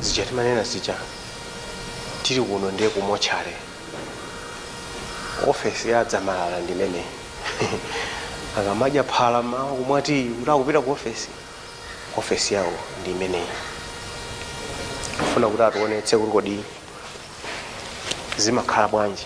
zija timanena zija tili kuno ndiye kumotchale ofesi ya Dzamalala ndi imeneyi akamadya phala mmawa kumwa tii kuti akupita ku ofesi ofesi yawo ndi imeneyi kufuna kuti ationetse kuti kodi zimakhala bwanji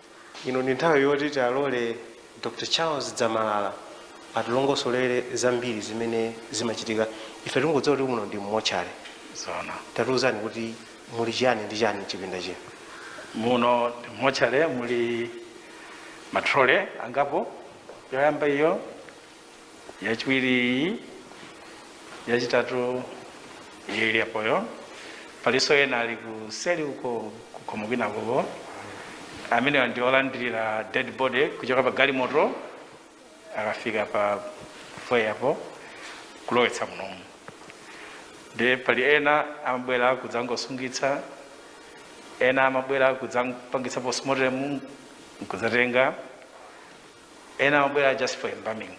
Ino ndi nthawi yoti tiwalole Dr Charles Dzamalala atilongosolere zambiri zimene zimachitika. Ife tikungodziwa kuti muno ndi mmotchale. Zoona. Tatiuzani kuti muli chiyani ndi chiyani mchipinda chino. Muno ndi mmotchale muli matrole angapo. Yoyamba iyo yachiwiri iyi yachitatu ili apo iyo palinso ena ali kuseri uko kukhomo kwinakoko amenewa ndi olandirira dead body kuchoka pa galimoto akafika pa foyapo kulowetsa munomu ndiye pali ena amabwera kudzangosungitsa ena amabwera kudzapangitsa postmortem nkudzatenga ena amabwera just for embalming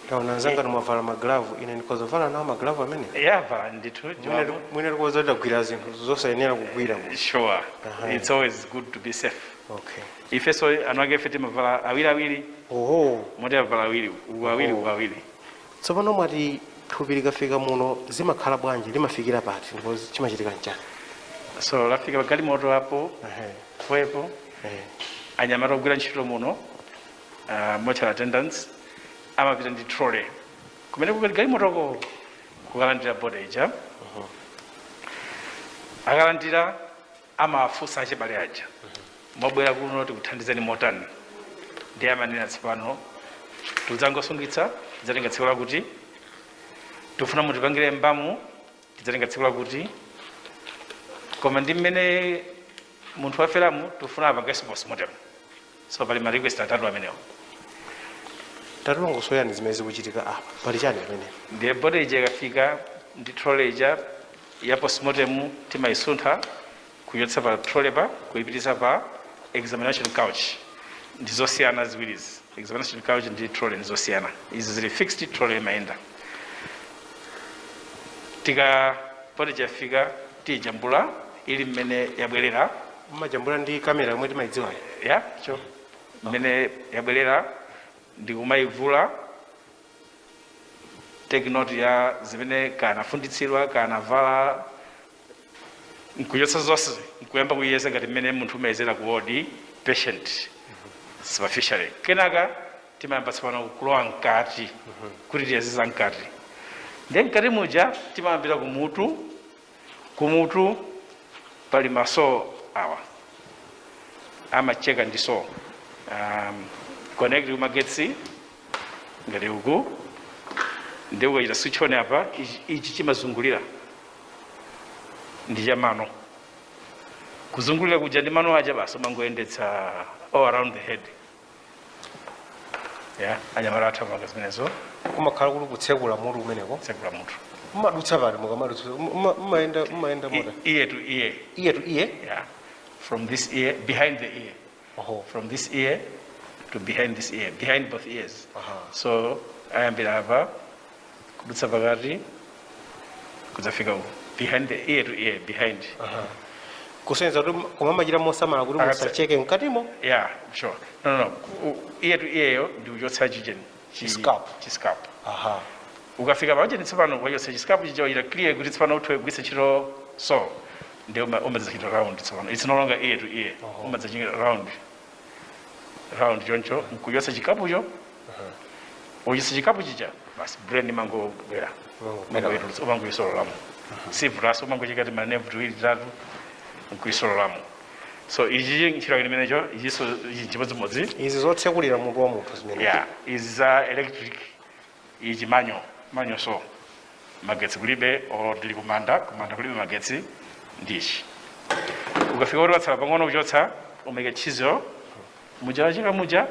ndaona anzanga ndimwavala maglavu ine ndikhoza kuvala nawo maglavu amene valani ndithu Mwina- mwina tikhoza kugwira zinthu zosayenera kugwira mu- sure Aha. it's always good to be safe okay ife so anthu ake ife timavala awiri awiri oho moti avala awiri uku awiri uku awiri tsopano mwati thupi likafika muno zimakhala bwanji limafikira pati ndipo chimachitika nchani so lafika pagalimoto apo Ehe. Pa foyapo, eh, anyamata ogwira ntchito muno uh, mortuary attendants amapita ndi trolley kumene kuli galimotoko kukalandira body ija akalandira amawafunsa achibale aja mwabwera kuno tikuthandizeni motani ndiye amanena tsopano tikudzangosungitsa tidzatenga tsiku lakuti tikufuna mutipangire mbamu tidzatenga tsiku lakuti koma ndi mmene munthu waferamu tikufuna apangenso postmortem so pali ma request atatu amenewo tatilongosolerani zimene zikuchitika apa pali chani pamene ndiye body ija ikafika ndi trolley ija ya postmortem timayisuntha Kuchotsa pa trolley apa kuipititsa pa examination couch ndi zosiyana ziwirizi. Examination couch ndi trolley ndi zosiyana. Izi zili fixed, trolley imayenda. Ikakhala body ija yafika tijambula ili mmene yabwerera Mumajambula ndi kamera yomwe timaidziwayo. Yah mmene yabwerera ndi kumayivula take note ya zimene kanafunditsidwa kanavala nkuchotsa zonse nkuyamba kuyeza ngati mmene munthu umayezera ku wodi patient superficially kenaka timayamba tsopano kulowa mkati kuti tiyeze za mkati ndiye mkati muja timayambira kumutu kumutu pali maso awa amacheka ndi so um, connect kumagetsi ngati uku ndi ukachita switch on apa ichi- ichi chimazungulira ndi cha mano kuzungulira kuja ndi mano aja basi umangoyendetsa all around the head ya anyamata athu amapanga zimenezo kumakhala kuti kutsekula mutu kumeneko kutsekula mutu mumadutsa pati mukamadutsa muma- mumayenda mumayenda motani ear to ear ear to ear ya from this ear behind the ear Oho. from this ear to behind this ear behind both ears Aha. so ayambira apa kudutsa pakati kudzafika uku behind the ear to ear behind Aha. kusonyeza kuti kumachita mosamala kuti Akatse- musacheke mkatimo yeah sure no no no Ku- ear to ear yo ndi kuchotsa chicheni chi- Chiscalp. chiscalp aha ukafika paja tsopano wachotsa chiscalp chija wachita clear kuti tsopano uthe kugwiritsa ntchito saw ndiye umadzachita round tsopano it's no longer ear to ear Oho. umadzachita round round choncho nkuchotsa chikapucho uchotsa chikapu chija basi brain imangobwera Imangobwera. umangoyisololamo sivutanso umangocheka ti manevu tiwiri titatu nkuyisololamo so ichi chi- ntchito yake imeneyo ichinso ichi chimodzimodzi izi zotsekulira mutu wa munthu zimene yeah izi za electric ichi manual manual so magetsi kulibe or ndili kumanda kumanda kulibe magetsi ndichi ukafika kuti patsala pang'ono kuchotsa umaika tchizo muja wacheka muja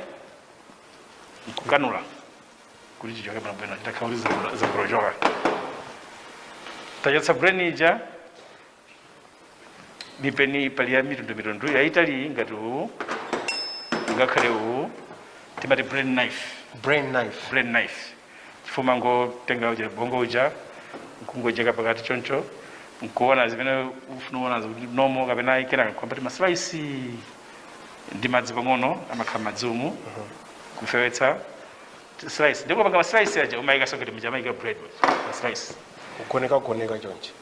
nkukanula kuti chichoke bwinobwino chitakhala kuti zakulochoka tachotsa brain ija mipeni pali ya mitundu mitundu yaitali ngati uwu ngakhale uwu timati brain knife brain knife brain knife chifukwa umangotenga uja bongo uja nkungocheka pakati choncho nkuona zimene ufuna kuonazo kuti normal kapena ayi kenaka nkuyamba timaslice ndi madzi pang'ono amakhala madzi umu kufewetsa slice nde popanga maslice aja umayika so kuti muja amayika bread maslice kugoneka kugoneka chonchi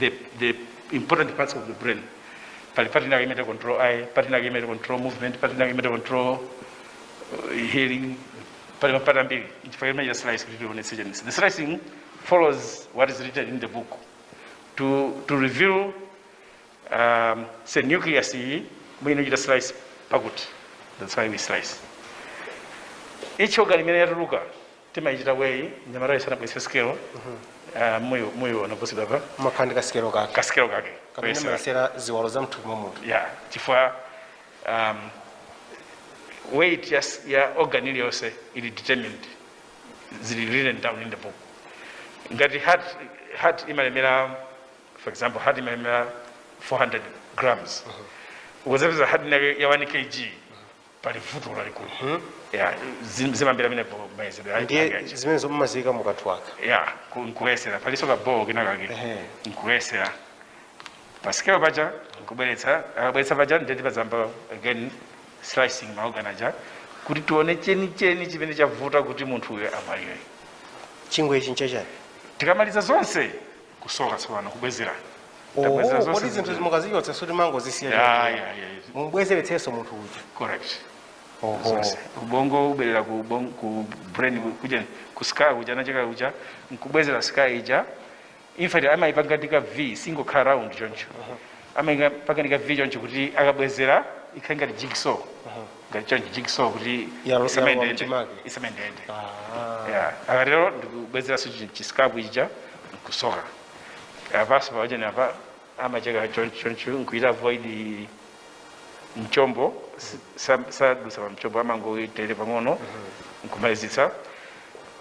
the, the important parts of the brain pali part inake imene control eye part inake imene control movement part inake imene control uh, hearing pali mapata ambiri chifukwa imene slice kuti tionetse chenisi the slicing follows what is written in the book to, to reveal um, say nucleus iyi mwine chita slice pakuti that's why we slice each organ imene yatuluka timaichita weigh mnyamatayo sanabweretse sikelo ah, muyo muyo ana supposed wa pamakhala ndi kasikelo kake kasikelo kake kamene koyesera. amayesera ziwalo za mthupi mwa munthu ya chifukwa um, weight ya, s- ya organ iliyonse ili determined zili written down in the book ngati heart, heart imalemera for example heart imalemera 400 grams ukazapeza heart inayo ya 1 kg pali vuto lalikulu hmm? yeah. zimambiri mmene mayezedwe ndiye zimenezo mumaziyika mukathu aka yeah. nkuyesera palinso kabowo kinakake nkuyesera pasikelo paja nkubweretsa akabweretsa paja ndiye timayamba again slicing maorgan aja kuti tione chenicheni chimene chavuta kuti munthu uyo amwalire chifukwa ichi nchachani tikamaliza zonse kusoka tsopano kubwezera Tabwezera oho zonse kodi zinthu zimene- zimukazichotsa sikuti mumango ya zisiya ya ya mumabwezeretsanso munthu uja correct oho zonse ubongo ubwerera ku ubongo ku brain kuja ku skull kuja nacheka kuja nkubwezera skull ija in fact amayipanga ndi ka v siingokhala round choncho amayipanga ndi ka v choncho kuti akabwezera ikhale ngati jigsaw ngati chonchi jigsaw kuti Yalowa isamayendeyende. mchimake. isamayendeyende Ah. Yeah. akatero ndikubwezeranso chi- chiscalp ija nkusoka apanso pachani apa amacheka choncho choncho nkuita avoid mchombo si- sa- sadusa pa mchombo amangoitere pang'ono nkumalizitsa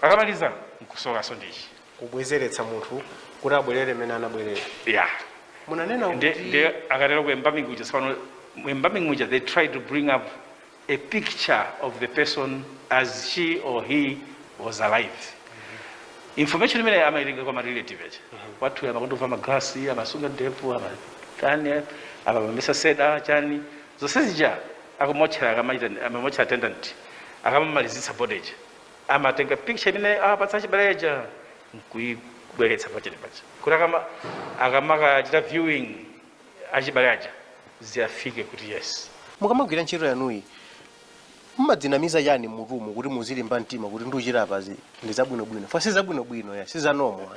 akamaliza nkusokanso ndichi kubwezeretsa munthu kuti abwerere mmene anabwerera yeah mukunena kuti ndiye akatero ku embalming uja tsopano mu embalming uja they try to bring up a picture of the person as she or he was alive information imene amaitenga kwa marelative aja wathu amakonda kuvala maglasi amasunga ndevu amatani amametetsa seda chani zonse zija akamotchera akamachita a mortuary attendant akamamalizitsa body ija amatenga picture imene awapatsa achibale aja nkuibweretsa pachani paja kuti akama- akamakachita viewing achibale aja aziyifike kuti yes mukamagwira ntchito yanuyi mumadzinamiza chani mmutumu kuti muzilimba mtima kuti ndikuchita apazi ndi zabwinobwino fa si zabwinobwino ya si zanomo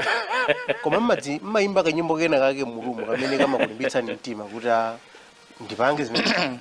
koma mumadzi- mumayimba kanyimbo kena kake mmutumu kamene kamakulimbitsani mtima kuti a ndipange zimene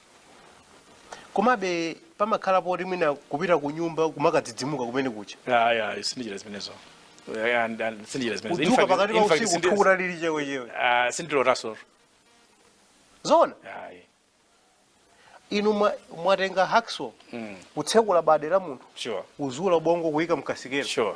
komabe pamakhala poti mwina kupita ku nyumba kumakadzidzimuka kumeneko kuja ayi ayi sindichita zimenezo Eh, and- and sindichita zimenezo In kudzuka fact- pakati pa in fact, usiku sindi- thukuta lili chewechewe Ah, sindilotanso zona ayi inu mwa- mwatenga hacksaw kutsekula bade la munthu sure kuzula ubongo kuyika mkasikelo sure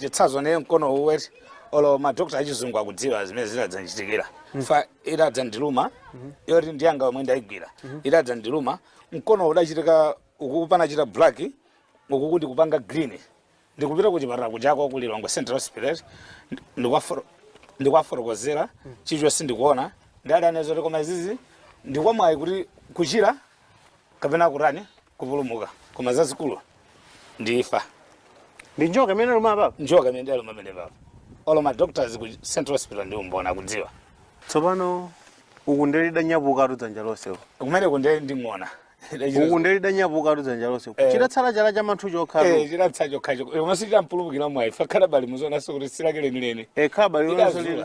chitsazo nawu mkono uwu eti olo madokota achizungu akudziwa zimene zinadzandichitikira fa itadzandiluma yoti ndiyanga yomwe ndayigwira itadzandiluma mkono udachita uku kupanga chita black uku kuti kupanga green ndikupita ku chipatala kujako ku lilongwe central hospital ndi- ndikuwafoto- ndikuwafotokozera choncho si ndikuona adandinena zoti koma izizi ndikwamwayi kuti kuchira kapena kutani kupulumuka koma zazikulu ndi imfa ndi njoka imene luma papa njoka imene ndi aluma amene papa olo ma doctors ku central hospital ndi mboni akudziwa tsopano uku nde lidanyapukatu dzanja lonse uku. kumeneko nde ndikuona uku nde lidanyapukatu dzanja lonse uku. Eh. chidatsala chala cha manthu chokha Eh, chidatsa chokhacho koma sichidampulumukira mwayi fa khalabali muzionanso kuti si lake lenileni khalabali lonse Chidazula. lili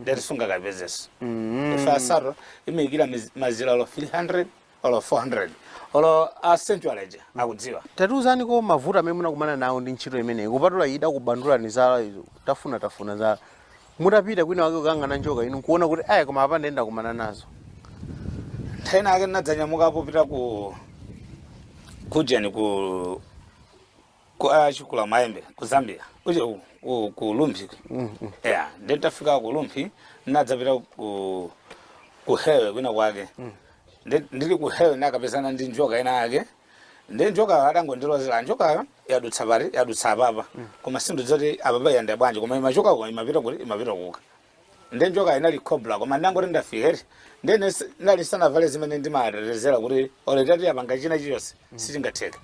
nde eti sungakapezenso ife asaro imikira miz- mazira olo 300 olo 400 olo a central aja akudziwa tatiuzaniko mavuto amene munakumana nawo ndi ntchito imeneyi kupatula idakubandulani zala tafuna tafuna za mutapita kwina wake kukayang'ana njoka inu nkuona kuti aya koma apa nde ndakumana nazo nthawi ina yake ndinadzanyamuka popita ku ujeni ku ku ah, chikulamayembe ku zambia uje ku- ku- ku rumphi yeah nditafika ku rumphi ndadzapita ku ku hewe kwina kwake Nde- ndili ku hewe ndakapezana ndi njoka ina yake nde njokayo adangondilozera njokayo yadutsa pati yadutsa apapa koma sindidziwa kuti apapa yayenda bwanji koma imachoka koma imapita kuti imapita kuka nde njoka inali cobra koma ndangoti ndafika eti nde ine si- ndali ndisanavale zimene ndimatetezera kuti olo itati yapanga china chiyonse sichingatheka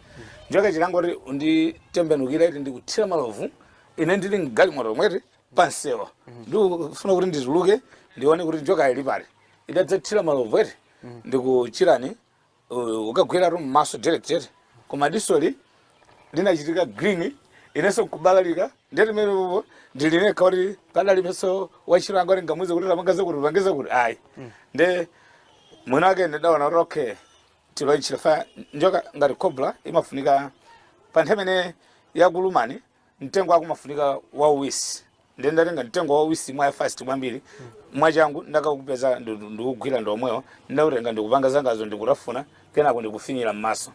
njoka chidangoti kunditembenukira eti ndikuthira malovu ine ndili mgalimoto mweti pansewa ndikufuna kuti ndituluke ndione kuti njoka ili pati idadzathira malovu eti ndikuchitani uh, kukagweratu mmaso direct koma disoli linachitika green inenso nkubalalika nde timene pompo ndili ndekha kuti padalibenso wantchito wanga kuti ndingamuuze kuti tapanga zakuti upange zakuti ayi nde mwina wake ndidaona kuti okay tiloichira fa njoka ngati cobra imafunika pa nthawi imene yakulumani mtengo wako umafunika wauwisi ndiye ndatenga mtengo wauwisi mwa fast kwambiri mwachangu ndakaupeza ndu- ndikugwira ndi womwewo ndautenga ndikupanga zangazo ndikutafuna kenako ndikufinyira m'maso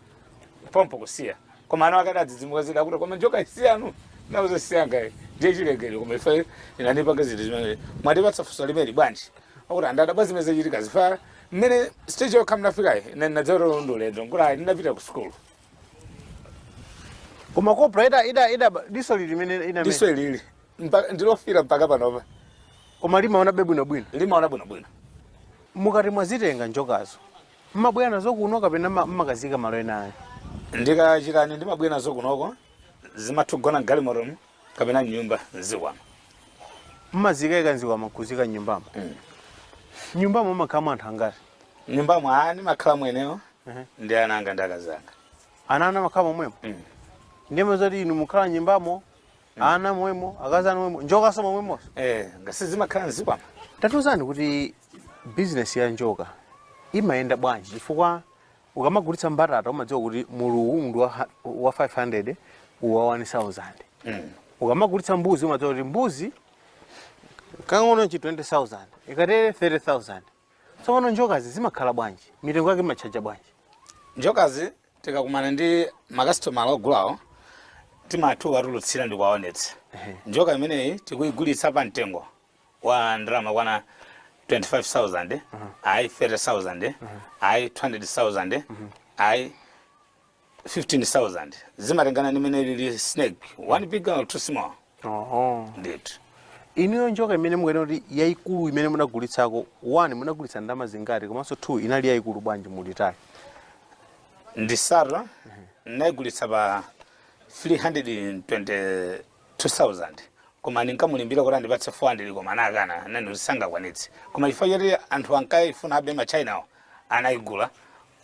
pompo kusiya koma anawa adadzidzimuka zida akuti koma njokayi si yanu ndawauza si yanga ayi ndi yachilengedwe koma ife inandipanga zinthu zimene mwatipatsa funso limeneli bwanji akuti anthu adadabwa zimene zachitika chifa mmene stage yokha munafikayi ine ndinadzero ndulendo nkulayi ndinapita ku sukulu koma cobra ida ida ida diso lili limene ina mene. diso ilili Mpa- ndilofira mpaka panopa koma limaonabe bwinobwino limaona bwinobwino mukati mwazitenga njokazo mmabwera nazo kuno kapena mma- mmakaziika malo ena ayi ndikachitani ndimabwera nazo kunoko zimatha kugona mgalimotomu kapena mnyumba zikwama mmaziika ika mzikwama kuziika nyumbamo nyumbamo mmakhalamo anthu angati nyumbamo a ndimakhala mwenewo ndi ana anga ndi akazi anga ana ana makhala momwemo Mm. ndiye zoti inu mukhala nyumbamo ana momwemo akazi anu momwemo njokaso momwemo eh ngakhale zimakhala mzikwama tatiuzani kuti bizinesi ya njoka imayenda bwanji chifukwa ukamagulitsa mbatata umadziwa kuti muluwu ndi wa ha- wa 500 uwu wa 1000 Mm. ukamagulitsa mbuzi umadziwa kuti mbuzi kang'ono chi 20000 ikatere 30000 Tsopano njokazi zimakhala bwanji? Mitengo yake mumatchaja bwanji? Njokazi tikakumana ndi makasitomala ogulawo timatha kuwatulutsira ndi kuwaonetsa. Ehe. Njoka imeneyi tikuyigulitsa pa mtengo wa ndalama zokwana 25,000, ayi 30,000, ayi 200,000, ayi 15000 zimatengana ndi mene lili snake one big or two small oho ndithu inuyo njoka imene mukunena kuti yayikulu imene munagulitsako one munagulitsa ndalama zingati komanso two inali yayikulu bwanji mulitali ndi sato ndinayigulitsa pa 322000 koma ndinkamulimbira kuti andipatse 400 koma anakana ati sangakwanitse koma chifukwa choti anthu ankayifuna abe matchainawo anayigula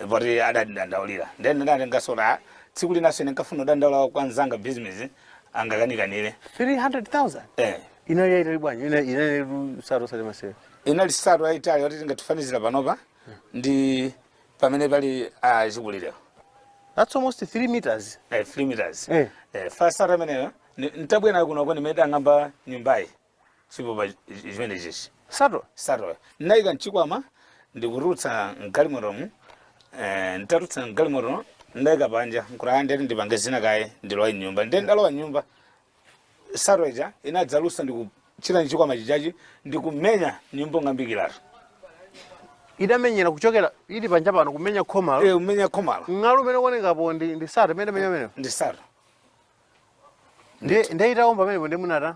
poti adandidandaulira ndiye ndinangoti ah, tsiku linanso ine nkafuna kudandaula kwa mnzanga bizinesi angakanikanire 300,000 eh inali yaitali bwanji Ina- inali nsato osati masewera inali nsato ayitali yoti tingatifanizira panopa ndi pamene pali achikulirewo that's almost 3 meters eh, 3 meters Eh. eh, first nsato ameneyo ni- nitabwera kunoko ndi amene adang'amba nyumbayi chipupa chi- chimene chichi sato satoyo ndinayika mchikwama ndikutulutsa mgalimotomu eh, nditatulutsa mgalimoto ndayika panja nkutaya ndiye ati ndipange zina kaye ndilowe mnyumba ndiye ndalowa mnyumba sato ija inadzalusa ndikuchita mchikwama chijachi ndikumenya nyumba kung'ambikiratu idamenyera kuchokera ili panja pano kumenya khomalo Eh, kumenya khomalo ng'alu umene ukuonekapo ndi ndi sato imene inamenya umenewo ndi sato nde nde itawomba pamenepo ndi munata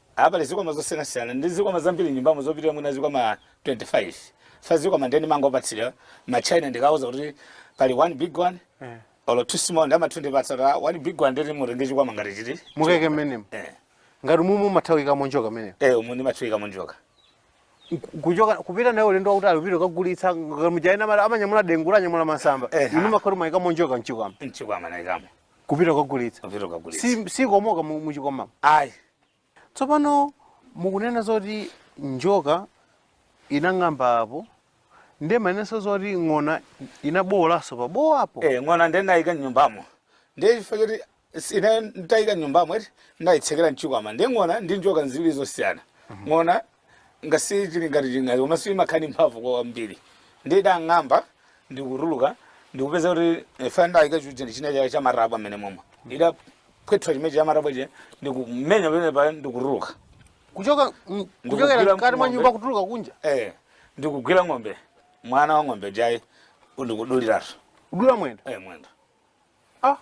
Apa pali zikwama zosiyanasiyana ndi zikwama zambiri m'nyumbamo zopitira mwina zikwama 25. First zikwama ndiye ndimangopatsidwa ma China ndikawauza kuti pali one big one Eh. or two small ndiye amatha kundipatsa kuti ah, one big one ndiye mutenge chikwama ngati chiti. mukaike mmenemo Eh. ngati mumu mumatha kuikamo njoka mmenemo Eh umu ndimatha kuikamo njoka. kuchoka kupita naye ulendo wautali kupita kukagulitsa muja ena amanyamula dengu lanyamula masamba Eh, ha. inu mumakhala mwaikamo njoka mchikwama Mchikwama naikamo. kupita kukagulitsa kupita kukagulitsa si, sikomoka mu- muchikwamamo ayi tsopano mukunena zoti njoka inang'amba apo ndiye mumanenanso zoti ng'ona inabowolanso pabowo apo eh ng'ona ndiye ndayika mnyumbamo ndiye chifukwa choti si- ine ndayika mnyumbamo eti ndayitsekera mchikwama ndiye ng'ona ndi njoka nziwiri zosiyana ng'ona ngasi chili ngati ching'ona komanso imakhala ndi mphamvu kwambiri ndiye idang'amba ndikutuluka ndikupeza kuti ife ndayika chija ndi china chake cha marabwa amene momwe idaphweta chimene cha marabwa chija ndikumenya pamene pa ndikutuluka kuchoka mm, kuchokera mkati mwa nyumba kutuluka kunja eh ndikugwira ng'ombe mwana wa ng'ombe ija eh ndikuduliratu kudula mwendo eh mwendo ah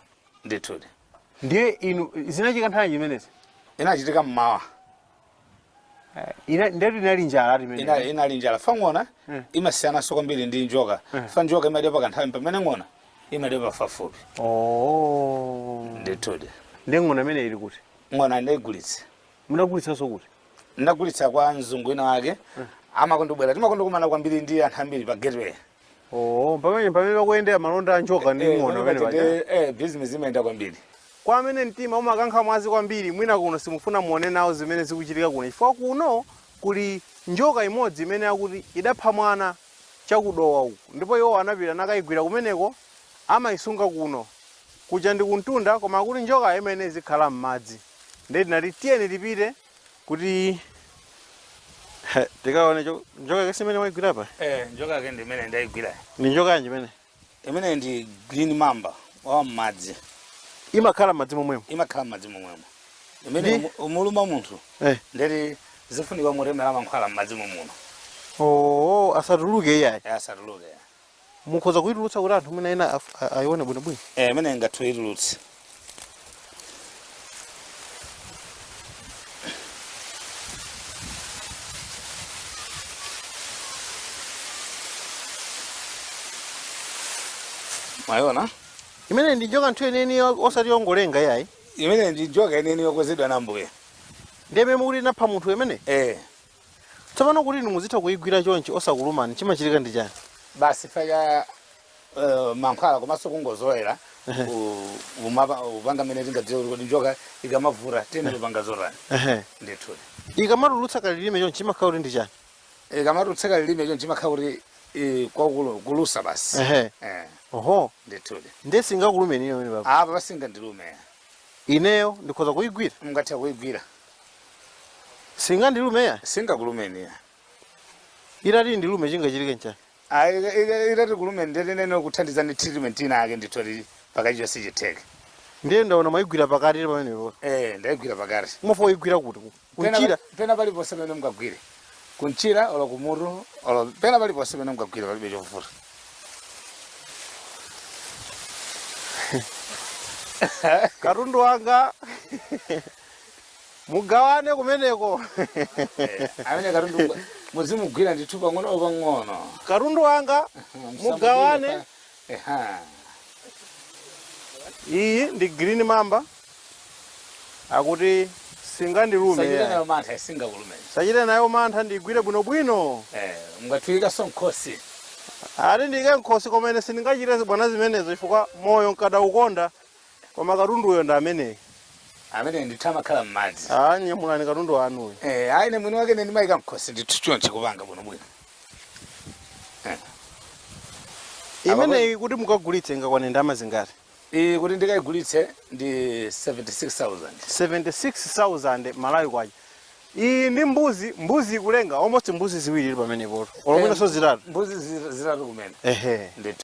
ndithudi ndiye inu zinachitika nthawi zimenezi inachitika mmawa Ina- ndetu inali njala ati imene inali inali njala chifukwa ng'ona Mm. imasiyananso kwambiri ndi njoka Mm. chifukwa njoka imadya pa kanthawi pamene ng'ona imadya pafupifupi Oh. ndithudi ndiye ng'ona imene ili kuti ng'ona ndaigulitsa munagulitsanso kuti ndagulitsa kwa mzungu wina wake amakondobwera timakondokumana kwambiri ndi anthu ambiri pa gateway oo pamene pamene pakuyendera malonda a njoka ndi Eh, ng'ona pamene pamene paja. paja, eh, business imayenda kwambiri kwa amene mtima umakankha mwazi kwambiri mwina kuno simufuna muone nawo zimene zikuchitika kuno chifukwa kuno kuli njoka imodzi imene akuti idapha mwana chakudowa uku ndipo iwo anapita nakayigwira kumeneko amayisunga kuno kuja ndi kumtunda koma akuti njoka imeneyi izikhala m'madzi ndiye tinati tiyeni tipite kuti He, tikaone cho- njoka yake si imene waigwira apa eh njoka yake ndi imene ndaigwira ni njoka yanji imene imene ndi green mamba wa mmadzi imakhala m'madzi momwemo imakhala mmadzi momwemo imene Ndi- umu- imuluma munthu eh. nde kuti zifunika mumtemera mankhwala mmadzi momuno oo asatuluke iyayi asatuluke mukhoza kuitulutsa kuti anthu mwina ena af- a- aione bwinobwino eh imene mungathe kuitulutsa mwaiona imene ndi njoka ndithu yeniyeni osati yongolenga iyayi imene ndi njoka yeniyeni yokonzedwa na Ambuye ndiye imene mukuti inapha munthu imene eh Tsopano kuti inu muzitha kuigwira chonchi osakulumani, chimachitika ndi chani? Basi chifukwa cha mankhwala komanso kungozolowera ku- umapa- upanga mmene tingadziwe kuti kodi njoka ikamavuta tiyeni tipanga zotani Ehe. ndithu Ikamatulutsa kalilime chonchi chimakhala kuti ndi chani? ikamatulutsa kalilime chonchi chimakhala kuti eh, kulusa basi Ehe. Eh, Oho. ndithudi Ndiye singakulumeni ine pamene papa. apa pasingandilume Ineyo ndikhoza kuigwira? Mungathe kuigwira. Singandilume ya? Singakulumeni ya. Itati indilume chingachitike nchani? Ayi ika- ika- itati kulumeni nde nnene kuthandiza ndi treatment ina yake ndithu koma pakali icho sichitheke. Ndiye ndaona mwaigwira pakati pamenepo. Eh, ndaigwira pakati. Mufuna kuigwira kuti? Mchira. pena paliponse pamene mungagwire kumchira olo kumutu olo pena paliponse pamene mungagwire palibe chovuta katundu wanga mugawane kumeneko amene katundu muzimugwira ndithu pang'ono pang'ono katundu wanga mugawane Eha. Iyi ndi green mamba akuti singandilume. Osachita nayo mantha isingakulume. Osachita nayo mantha ndigwire bwinobwino. Eh, mungaikenso nkhosi. Ati ndiike nkhosi koma ine sindingachite zibwana zimenezo chifukwa moyo ndikadaukonda Koma katunduyo ndi ameneyu. Amene ndithu amakhala m'madzi. Ah, nyamulani katundu wanuyo. Eh, ayi ine mwini wake ine ndimayika mkhosi ndithu chonchi kupanga bwino bwino. Imeneyi kuti mukagulitse ingakwane ndalama zingati? Iyi kuti ndikayigulitse ndi 76,000. 76,000 Malawi kwacha. Iyi ndi mbuzi, mbuzi ikulenga almost mbuzi ziwiri ili pamenepo. Olo mwinanso zitatu. Mbuzi zi- zitatu kumene. Ehe. Ndithu.